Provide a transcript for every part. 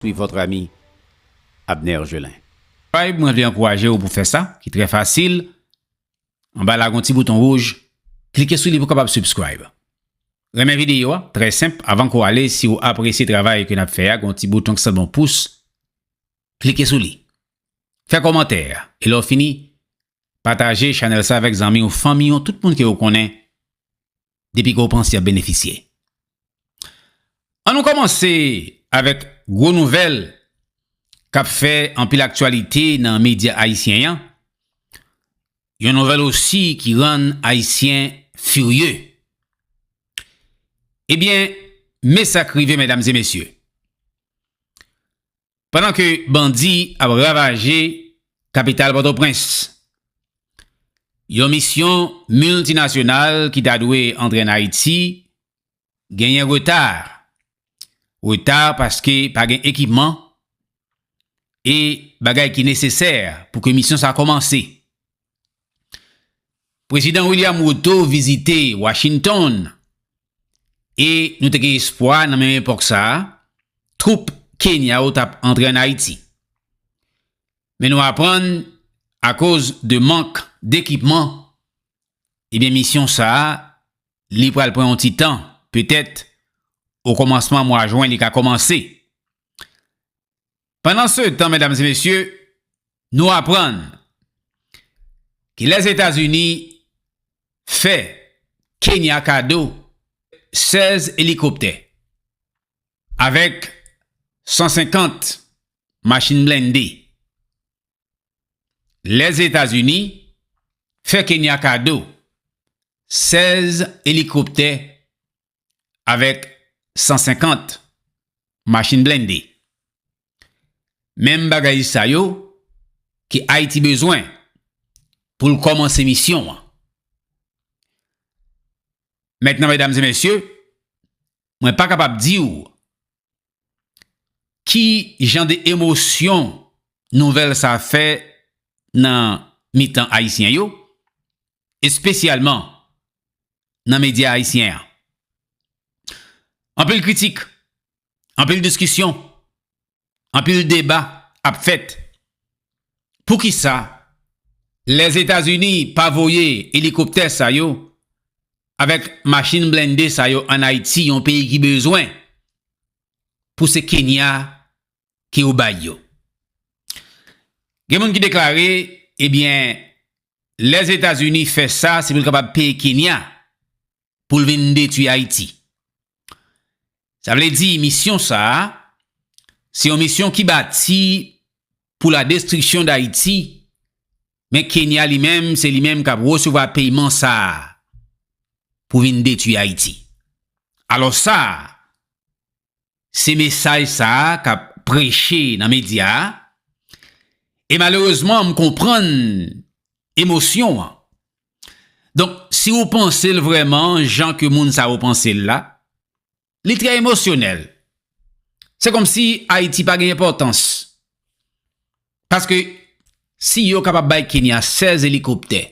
Suis votre ami Abner Gelin. Vibe mwen vle ankouraje ou pou fè sa ki trè fasil anba la gon ti bouton wouj klike sou li pou kapab subscribe renmen video a trè senp avan ko ale si ou apresye travay ke nap fè a gon ti bouton ki sanble yon pous klike sou li fè komantè e lè w fini pataje chanèl sa avèk zanmi w fanmi w tout moun ke ou konnen depi ke w panse ap benefisye. An nou kòmanse avèk gwo nouvèl k ap fè anpil aktyalite nan medya ayisyen an, yon nouvèl osi ki rann ayisyen firye. Ebyen, me sa k rive medam e mesye. Pandan ke bandi ap ravaje kapital Pòtoprens, yon misyon miltinasyonal ki ta dwe antre an Ayiti genyen reta. Reta paske pa gen ekipman e bagay ki nesesè pou ke misyon sa kòmanse. Prezidan William Ruto vizite Washington e nou te gen espwa nan menm epòk sa a, twoup Kenya yo t ap antre ann Ayiti. Men nou aprann akoz de mank dekipman, ebyen misyon sa a li pral pran yon ti tan, petèt o kòmansman mwa jwen li ka kòmanse. Pandansetan, medam e mesye, nou aprann ke Lèzetazini fè Kenya kado 16 elikoptè avèk 150 machin blende. Lèzetazini fè Kenya kado 16 elikoptè avèk 150 machin blende. Menm bagay sa yo ke Ayiti bezwen pou l kòmanse misyon an. Mètnan medam e mesye, mwen pa kapab di ou Ki jan de emosyon nouvèl sa fè nan mitan Ayisyen yo, espesyalman nan medya Ayisyen an? Anpil kritik, anpil diskisyon, anpil deba ap fèt Poukisa Lèzetazini pa voye elikoptè sa yo avèk machin blende sa yo an Ayiti yon peyi ki bezwen pou se Kenya ke yo bay yo? Gen moun ki deklare ebyen Lèzetazini fè sa se pou l kapab peye Kenya pou l vin detwi Ayiti. Sa vle di misyon sa a, se yon misyon ki bati pou la destriksyon d'Ayiti, men Kenya li menm se li menm k ap resevwa peyman sa a pou vin detwi Ayiti. Alò sa a, Se mesaj sa a k ap preche nan medya a, e malerezman m konprann emosyon an. Donk, si ou panse l vrèman jan ke moun sa yo panse l la, li trè emosyonèl. Se kòmsi Ayiti pa gen enpòtans. Paske si yo kapab bay Kenya 16 elikoptè,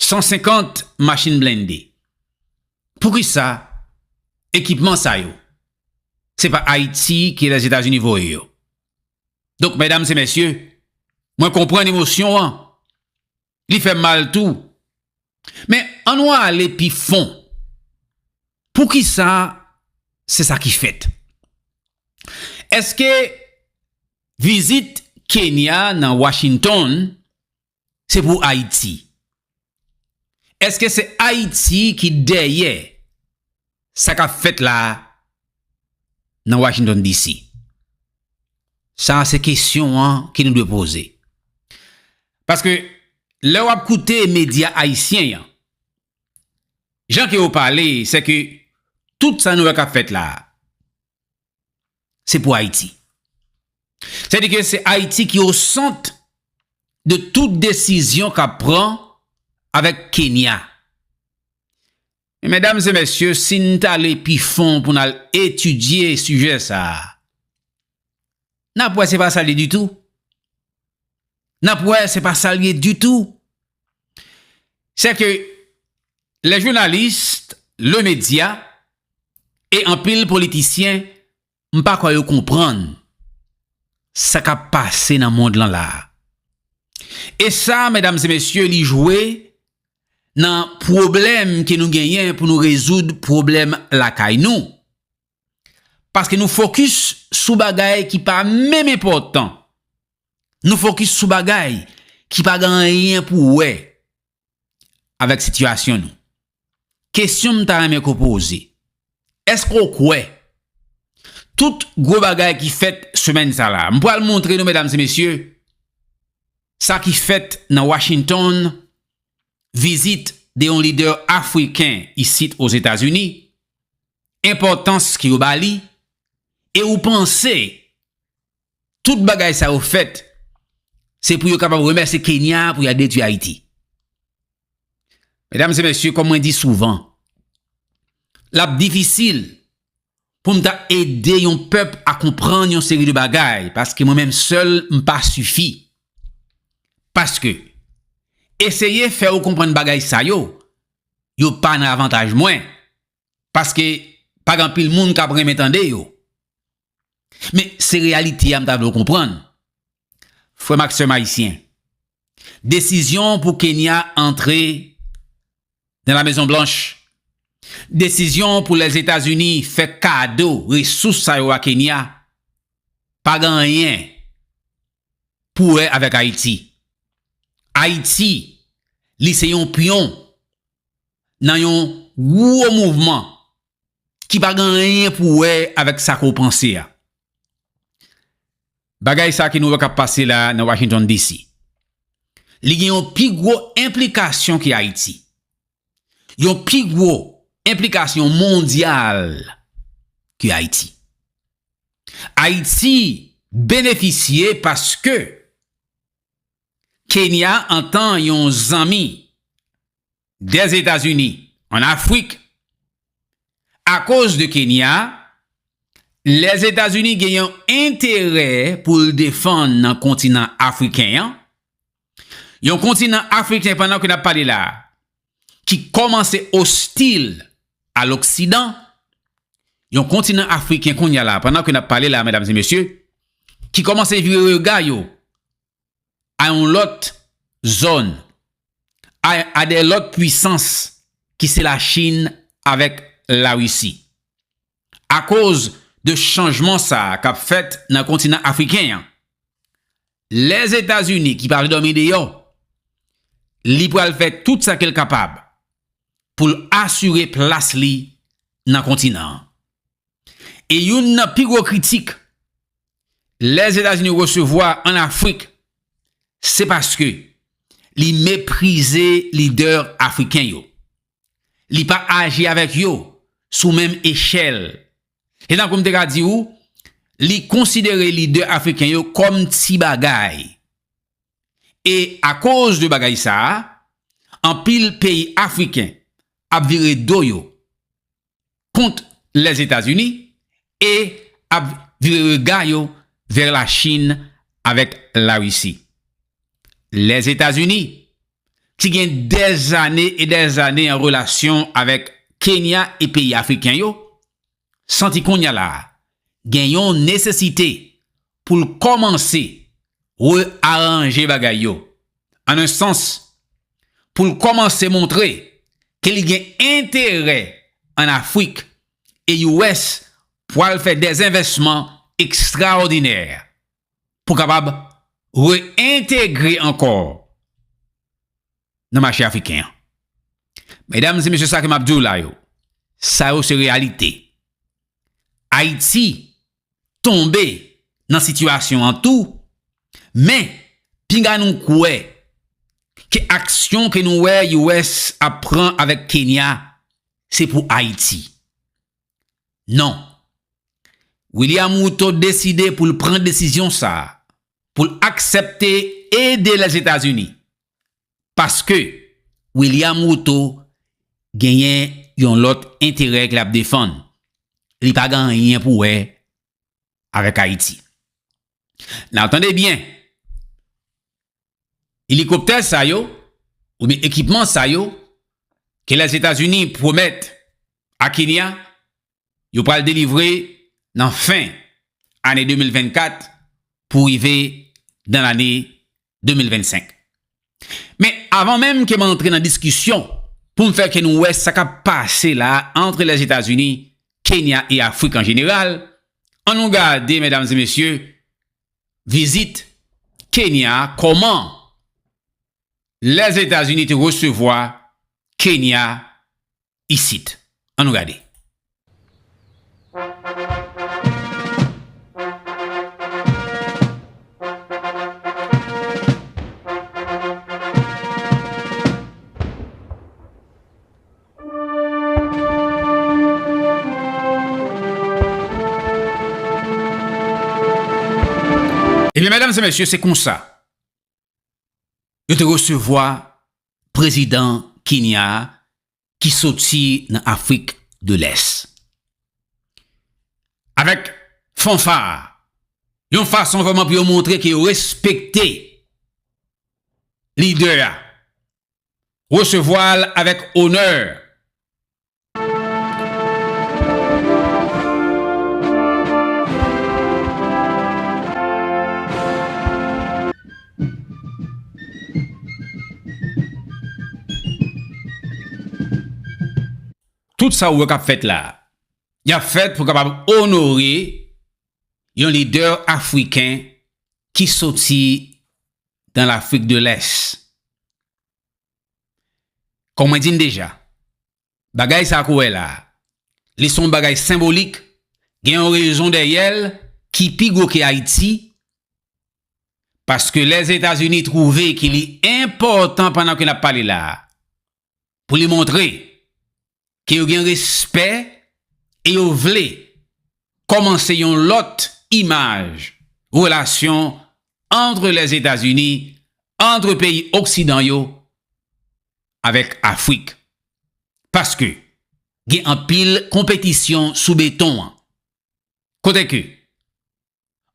150 machin blende, poukisa ekipman sa yo se pa Ayiti ki Lèzetazini voye yo? Donk medam se mesye, mwen konprann emosyon an, li fè mal tou. Men, an nou ale pi fon. Poukisa se sa ki fèt? Eske vizit Kenya nan Washington se pou Ayiti? Eske se Ayiti ki dèyè Sa kap fèt la nan Washington DC? Sa a se kesyon an ke nou dwe poze. Paske lè wap koute medya ayisyen yan, jan ke yo pale se ke tout sa nou wè kap fèt la a, se pou Ayiti. Se di ke se Ayiti ki o sant de tout desizyon kap pran avèk Kenya. Medam e mesye, si n t ale pi fon pou n al etidye sijè sa a, n ap wè se pa sa l ye ditou. N ap wè se pa sa l ye ditou. Sèke lè jounalis, le medya e anpil politisyen M pa kwè yo konprann sa k ap pase nan mond lan la a. E sa, medam e mesye, li jwe nan pwoblèm ke nou genyen pou nou rezoud pwoblèm lakay nou. Paske nou fokis sou bagay ki pa menm enpòtan. Nou fokis sou bagay ki pa gen anyen pou wè avèk sitiyasyon nou. Kesyon m ta renmen ke w poze, èske w kwè tout gwo bagay ki fèt semèn sa la, m pral montre nou medam e mesye, sa ki fèt nan Washington, vizit de yon lidè afriken isit Ozetazini, enpòtans ke yo ba li, e ou panse Tout bagay sa yo fèt se pou yo kapab remèse Kenya pou ya detwi Ayiti. Medam se mesye, kòm mwen di souvan, l ap difisil pou m ta ede yon pèp a konprann yon seri de bagay paske mwen menm sèl m pa sifi. Paske, eseye fè ou konprann bagay sa yo, yo pa nan avantaj mwen, paske pa gen anpil moun k ap renmen tande yo. Men, se reyalite a m ta vle w konprann, frè m ak sè m ayisyen. Desizyon pou Kenya antre nan La Mezon Blanch, desizyon pou Lèzetazini fè kado resous sa yo a Kenya, pa gen anyen pou wè avèk Ayiti. Ayiti, li se yon pyon nan yon gwo mouvman ki pa gen anyen pou wè avèk sa ke w panse a. Bagay sa ke nou wè k ap pase la nan Washington DC. Li gen yon pi gwo enplikasyon ke Ayiti. Yon pi gwo enplikasyon mondyal ke Ayiti. Ayiti benefisye paske Kenya antan yon zanmi des États-Unis en Afrique a koz de Kenya les États-Unis gen yon enterè pou l defann nan kontinan afriken an, yon kontinan afriken pandan ke n ap pale la a ki kòmanse ostil a loksidan, yon kontinan afriken kounya la pandan ke n ap pale la a medam e mesye ki kòmanse vire rega yo a yon lòt zòn, a a dè lòt pwisans ki se la Chin avèk la Risi. Akoz de chanjman sa a kap fèt nan kontinan afriken an, Lèzetazini ki pral dòmi deyò, li pral fè tout sa ke l kapab pou l asire plas li nan kontinan an. E youn nan pi gwo kritik Lèzetazini resevwa an Afrik se paske li meprize lidè afriken yo. Li pa aji avèk yo sou menm echèl. Se tankou m te ka di ou, li konsidere lidè afriken yo kòm ti bagay. E akoz de bagay sa a, anpil peyi afriken ap vire do yo kont Lèzetazini e ap vire rega yo vè Lachin avèk Larisi. Lèzetazini, ki gen dèzane e dèzane an relasyon avèk Kenya e peyi afriken yo, santi kounya la gen yon nesesite pou l kòmanse re-aranje bagay yo, an un sans, pou l kòmanse montre ke li gen enterè an Afrik e US pwal fè dè envèsman ekstraòdinè pou kapab re-entegre ankò nan mache afriken an. Medam e mesye sa ke m ap di w la yo, sa yo se reyalite. Ayiti tonbe nan sitiyasyon an tou, men pinga nou kwè ke aksyon ke nou wè US ap pran avèk Kenya se pou Ayiti. Non. William Ruto deside pou l pran desizyon sa a, pou l aksepte ede Lèzetazini Paske William Ruto genyen yon lòt enterè k lap defann. Li pa gen anyen pou wè avèk Ayiti. Nan tande byen, elikoptè sa yo oubyen ekipman sa yo ke Lèzetazini pwomèt a Kenya yo pral delivre nan fen ane 2024 pou rive nan lane 2025. Men avan menm ke m antre nan diskisyon pou m fè ke nou wè sa k ap pase la antre Lèzetazini, Kenya e Afrik an jeneral, an nou gade medam e mesye vizit Kenya kòman Lèzetazini te resevwa Kenya isit. An nou gade. Ebyen medam se mesye se konsa yo te resevwa prezidan Kenya a ki soti nan Afrik de Lès. Avèk fanfa, yon fason vrèman pou yo montre ke yo respekte lidè a, resevwa l avèk onè, Tout sa ou wè kap fèt la, yap fèt pou kapab onore yon lidè afriken ki soti dan Lafrik de Lès. Kon mwen di n deja, bagay sa a ke w wè la a, li se yon bagay senbolik, gen yon rezon dèyè l ki pi gwo ke Ayiti, paske Lèzetazini twouve ke li enpòtan pandan ke n ap pale la a, pou li montre ke yo gen respè e yo vle kòmanse yon lòt imaj relasyon antre Lèzetazini, antre peyi oksidan yo avèk Afrik. Paske gen anpil konpetisyon sou beton an. Kote ke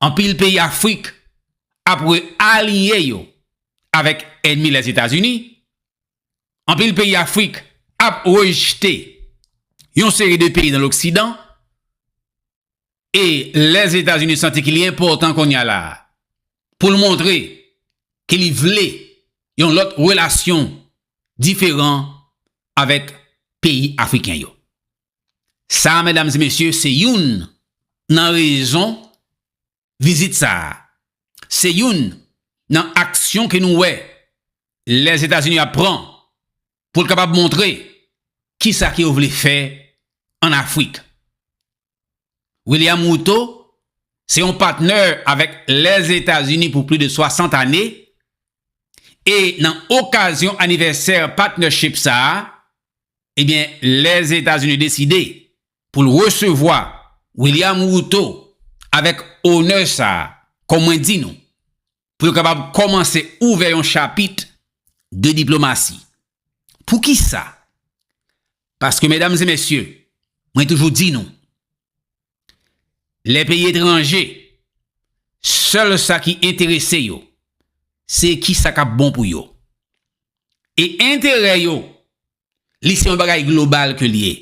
anpil peyi Afrik ap re-aliye yo avèk ènmi Lèzetazini, anpil peyi Afrik ap rejte yon seri de peyi nan loksidan, e Lèzetazini santi ki li enpòtan kounye a la a pou l montre ke li vle yon lòt relasyon diferan avèk peyi Afriken yo. Sa a medam e mesye se youn nan rezon vizit sa a. Se youn nan aksyon ke nou wè Lèzetazini ap pran pou l kapab montre ki sa ke yo vle fè an Afrik. William Ruto se yon patnè avèk Lèzetazini pou pli de 60 ane e nan okazyon anivèsè patnership sa a, Ebyen lè Etazini deside pou l resevwa William Ruto avèk onè sa kòm mwen di nou pou yo kapab kòmanse ouvè yon chapit de diplomasi. Poukisa? Paske medam e mesye mwen toujou di nou lè peyi etranje sèl sa ki enterese yo se ki sa kap bon pou yo e enterè yo li se yon bagay global ke li ye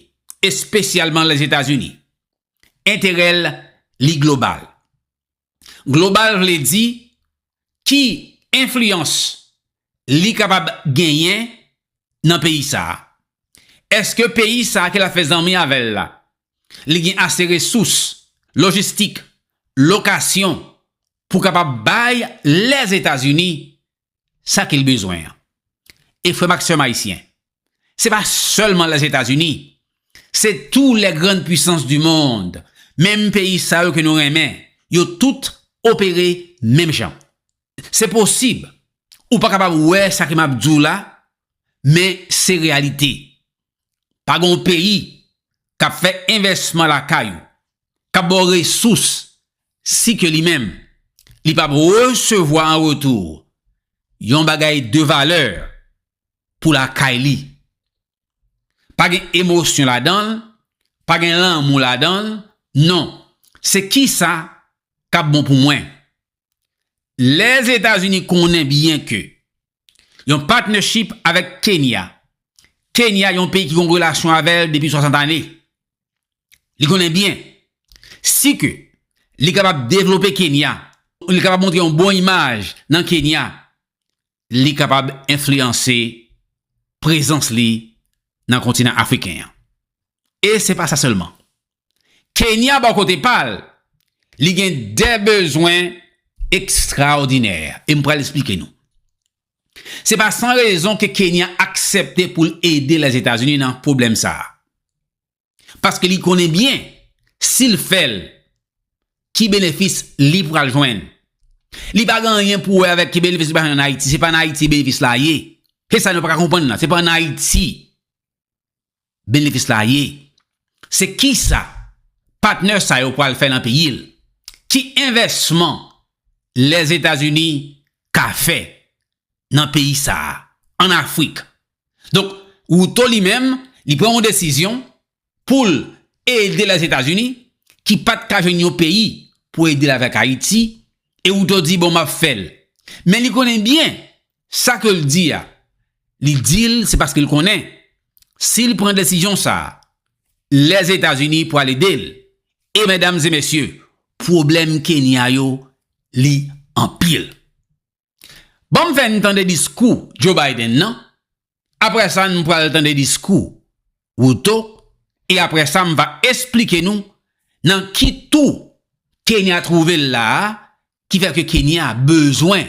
espesyalman lèzetazini enterèl li global. global vle di ki enfliyans li kapab genyen nan peyi sa a. Eske peyi sa a ke l ap fè zanmi avè l la, li gen ase resous, lojistik, lokasyon pou kapab bay Lèzetazini sa ke l bezwen an. E frè m ak sè m ayisyen, se pa sèlman Lèzetazini, se tou lè grann pwisans di mond, menm peyi sa yo ke nou renmen, yo tout opere menm jan. Se posib ou pa kapab wè sa ke m ap di w la, men se reyalite. Pa gen yon peyi k ap fè envèsman lakay ou, k ap ba w resous, si ke li menm li pap resevwa an retou yon bagay de valè pou lakay li. Pa gen emosyon ladan l, pa gen lanmou ladan l, non, se kisa kap bon pou mwen. Lèzetazini konnen byen ke Yon partnership avèk Kenya. Kenya yon peyi ki gon relasyon avèl depi 60 ane. Li konnen byen. Si ke li kapab devlope Kenya, li kapab montre yon bon imaj nan Kenya, li kapab enfliyanse prezans li nan kontinan Afriken an. E se pa sa sèlman. Kenya bò kote pa l, li gen 2 bezwen ekstraòdinè e m pral esplike nou. Se pa san rezon ke Kenya aksepte pou l ede Lèzetazini nan pwoblèm sa a. Paske li konnen byen, si l fè l, ki benefis li pral jwenn. Li pa gen anyen pou wè avèk ki benefis li pral jwenn an Ayiti. Se pa an Ayiti benefis la ye. Se sa nou pa ka konprann la. Se pa an Ayiti. benefis la ye, se kisa patnè sa yo pral fè nan peyi l, ki envèsman Lèzetazini ka fè nan peyi sa a, an Afrik. Donk, Ruto li menm, li pran yon desizyon pou l ede Lèzetazini ki pa t ka jwenn yon peyi pou ede l avèk Ayiti, e Ruto di bon m ap fè l. Men li konnen byen Sa ke l di a, li di l se paske l konnen si l pran desizyon sa a, Lèzetazini pral ede l. E medam e mesye, pwoblèm Kenya yo, li anpil. Ban m fè n tande diskou Joe Biden nan, apre sa n pral tande diskou Ruto e apre sa m va esplike nou nan ki tou Kenya twouve l la a ki fè ke Kenya bezwen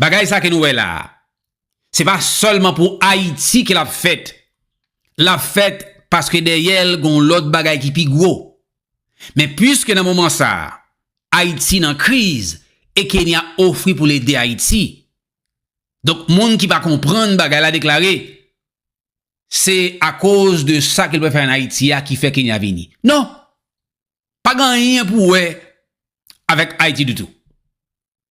Bagay sa ke nou wè la a, se pa sèlman pou Ayiti ke l ap fèt. L ap fèt paske dèyè l gen yon lòt bagay ki pi gwo. Men piske nan moman sa a, Ayiti nan kriz e Kenya ofri pou l ede Ayiti. Donk moun ki pa konprann bagay la deklare, Se akoz de sa ke l pral fè ann Ayiti a ki fè Kenya vini. Non! Pa gen anyen pou wè avèk Ayiti ditou.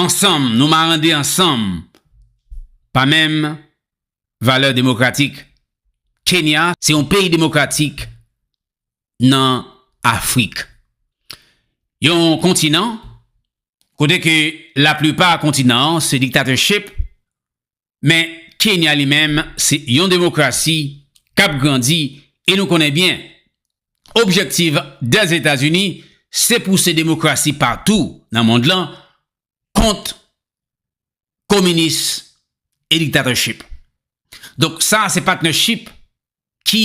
ansanm, nou marande ansanm pa menm valè demokratik. Kenya se yon peyi demokratik nan Afrik. Yon kontinan kote ke laplipa kontinan an se diktatèchip Men Kenya li menm se yon demokrasi k ap grandi e nou konnen byen objektiv Dèzetazini se pouse demokrasi patou nan mond lan kont kominis e diktatèchip. Donk sa se patnèchip ki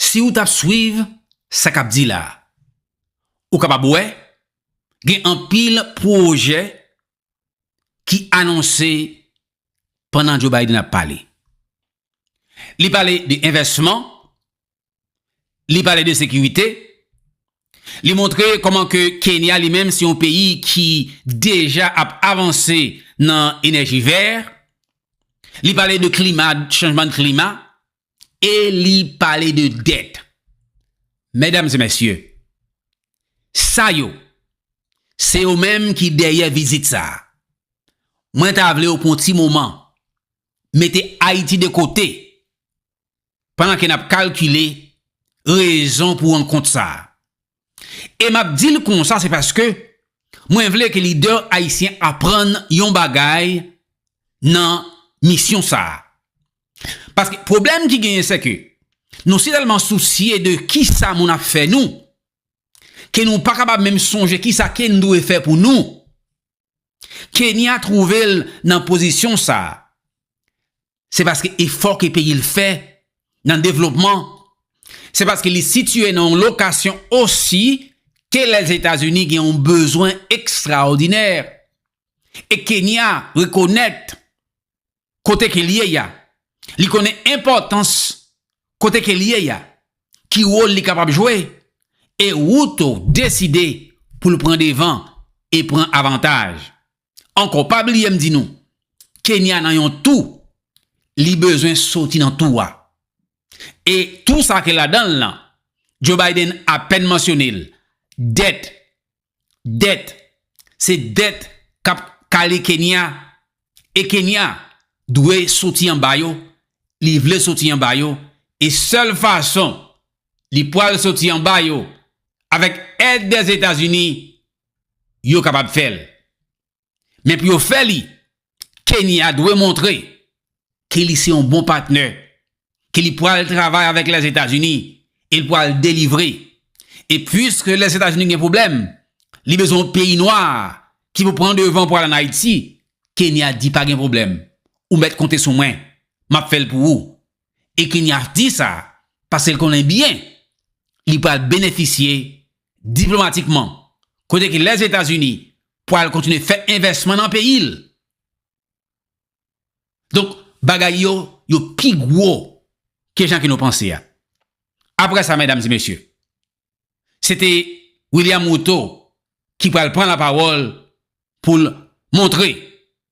Si ou tap swiv sa kap di la, ou kapab wè gen anpil pwojè ki anonse pandan Joe Biden ap pale. Li pale de envèsman, li pale de sekirite, li montre kòman ke Kenya li menm se yon peyi ki deja ap avanse nan enèji vè, li pale de klima, chanjman klima, E li pale de dèt. Medam e mesye, sa yo, se yo menm ki dèyè vizit sa a. Mwen ta vle yo pran yon ti moman, mete Ayiti de kote, pandan ke n ap kalkile rezon pou rankont sa a. E m ap di l konsa se paske mwen vle ke lidè ayisyen aprann yon bagay nan misyon sa a. Paske pwoblèm ki genyen se ke nou si tèlman sousye de kisa moun ap fè nou ke nou pa kapab menm sonje kisa ke n dwe fè pou nou. Kenya twouve l nan pozisyon sa, se paske efò ke peyi l fè nan devlopman, se paske li sitye nan yon lokasyon osi ke Lèzetazini gen yon bezwen ekstraòdinè. E Kenya rekonèt kote ke li ye ya, li konnen enpòtans kote ke li ye ya, ki wòl li kapab jwe, e Ruto deside pou l pran devan e pran avantaj. Ankò pa bliye m di nou, Kenya nan yon tou, li bezwen soti nan tou a. E tou sa ke ladan l lan, Joe Biden apèn mansyone l, dèt, Dèt, se dèt k ap kale Kenya, e Kenya dwe soti anba yo, li vle soti anba yo, e sèl fason li pwal soti anba yo, avèk èd Dèzetazini, yo kapab fè l. Men pou yo fè li, Kenya dwe montre ke li se yon bon patnè, ke li pwal travay avèk Lèzetazini e li pwal delivre. E pwiske Lèzetazini gen pwoblèm, li bezwen yon peyi nwa ki pou pran devan pou al an Ayiti, Kenya di pa gen pwoblèm, ou mèt konte sou mwen, m ap fè l pou ou. E Kenya di sa paske l konnen byen li pwal benefisye diplomatikman, kote ke Lèzetazini pwal kontinye fè envèsman nan peyi l. Donk, bagay yo, yo pi gwo ke jan ke nou panse a. Apre sa, medam e mesye, se te William Ruto ki pwal pran lapawòl pou l montre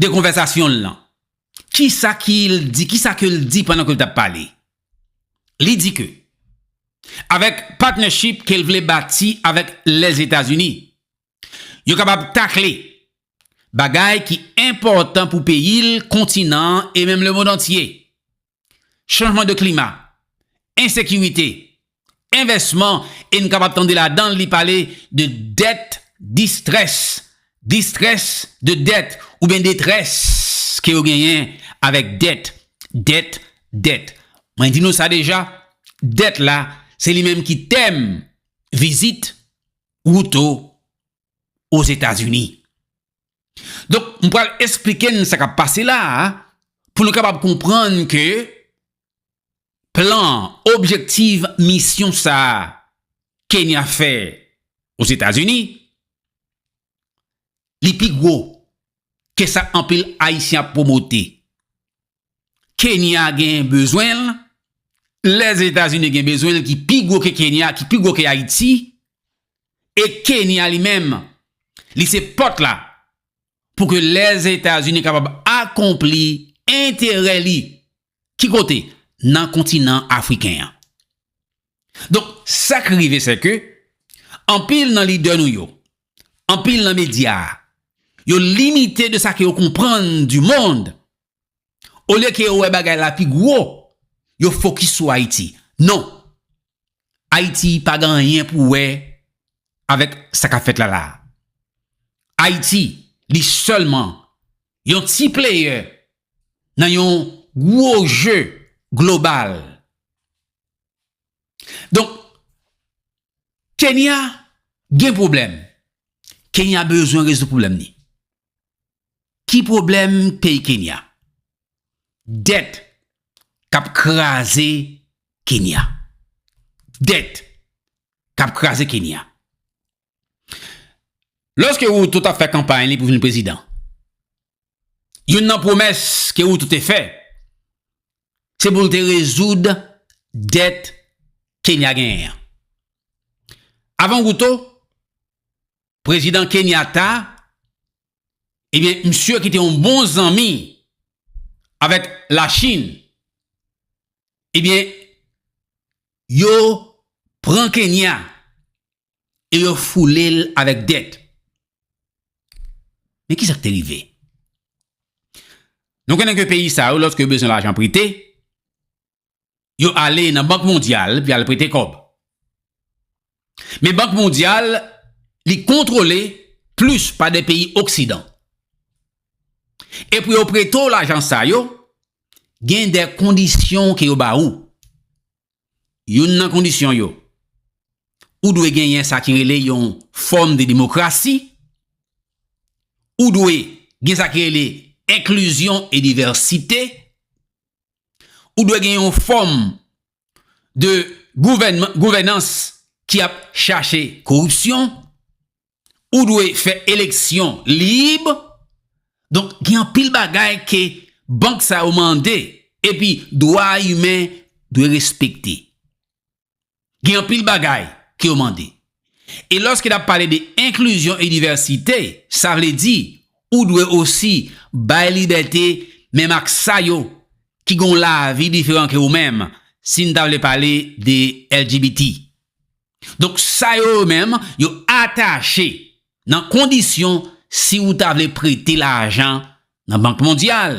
de konvèsasyon l lan. Kisa ki l di, kisa ke l di pandan ke l t ap pale? Li di ke avèk partnership ke l vle bati avèk Lèzetazini, yo kapab takle bagay ki enpòtan pou peyi l, kontinan an e menm lemond antye. chanjman de klima, ensekirite, envèsman e n kapab tande ladan l li pale de dèt distrès, distrès de dèt oubyen detrès ke yo genyen avèk dèt, dèt, dèt. Mwen di nou sa deja, dèt la se li menm ki tèm vizit Ruto Ozetazini. Donk, m pral esplike n sa k ap pase la a pou nou kapab konprann ke plan, objektiv, misyon sa a Kenya fè Ozetazini, li pi gwo ke sa anpil Ayisyen ap pwomote. Kenya gen bezwen l, Lèzetazini gen bezwen l ki pi gwo ke Kenya, ki pi gwo ke Ayiti, e Kenya li menm, li se pòt la pou ke Lèzetazini kapab akonpli enterè li, ki kote? Nan kontinan Afriken an. Donk, sa k rive sè ke, anpil nan lidè nou yo, anpil nan medya yo limite de sa ke yo konprann di mond olye ke yo wè bagay la pi gwo yo fokis sou Ayiti non Ayiti pa gen anyen pou wè avèk sa kap fèt la la Ayiti li sèlman yon ti playè nan yon gwo je global. Donk, Kenya gen pwoblèm. Kenya bezwen rezoud pwoblèm ni. Ki pwoblèm peyi Kenya? Dèt k ap kraze Kenya. Dèt k ap kraze Kenya. Lòske Ruto t ap fè kanpay li pou vin prezidan, youn nan pwomès ke Ruto te fè, se pou l te rezoud dèt Kenya genyen an. Avan Ruto, prezidan Kenyatta, ebyen misye ki te yon bon zanmi avèk Lachin, ebyen yo pran Kenya e yo foule l avèk dèt. Men ki sa k te rive? Nou konnen ke peyi sa yo lòske yo bezwen lajan prete, yo ale nan Bank Mondyal pou y al prete kòb. Men Bank Mondyal li kontwole plis pa de peyi oksidan. E pou yo prete w lajan sa yo, gen de kondisyon ke yo ba ou. Youn nan kondisyon yo, ou dwe genyen sa ki rele yon fòm de demokrasi, ou dwe gen sa ki rele enklizyon e divèsite, ou dwe gen yon fòm de gouvènans ki ap chache koripsyon, ou dwe fè eleksyon lib, donk gen anpil bagay ke bank sa yo mande, epi dwa imen dwe respekte. Gen anpil bagay ke yo mande. E lòske nap pale de enklizyon e divèsite, sa vle di, ou dwe osi bay libète menm ak sa yo ki gen yon lavi diferan ke ou menm, si n ta vle pale de LGBT. Donk sa yo yo menm yo atache nan kondisyon si ou ta vle prete lajan nan Bank Mondyal.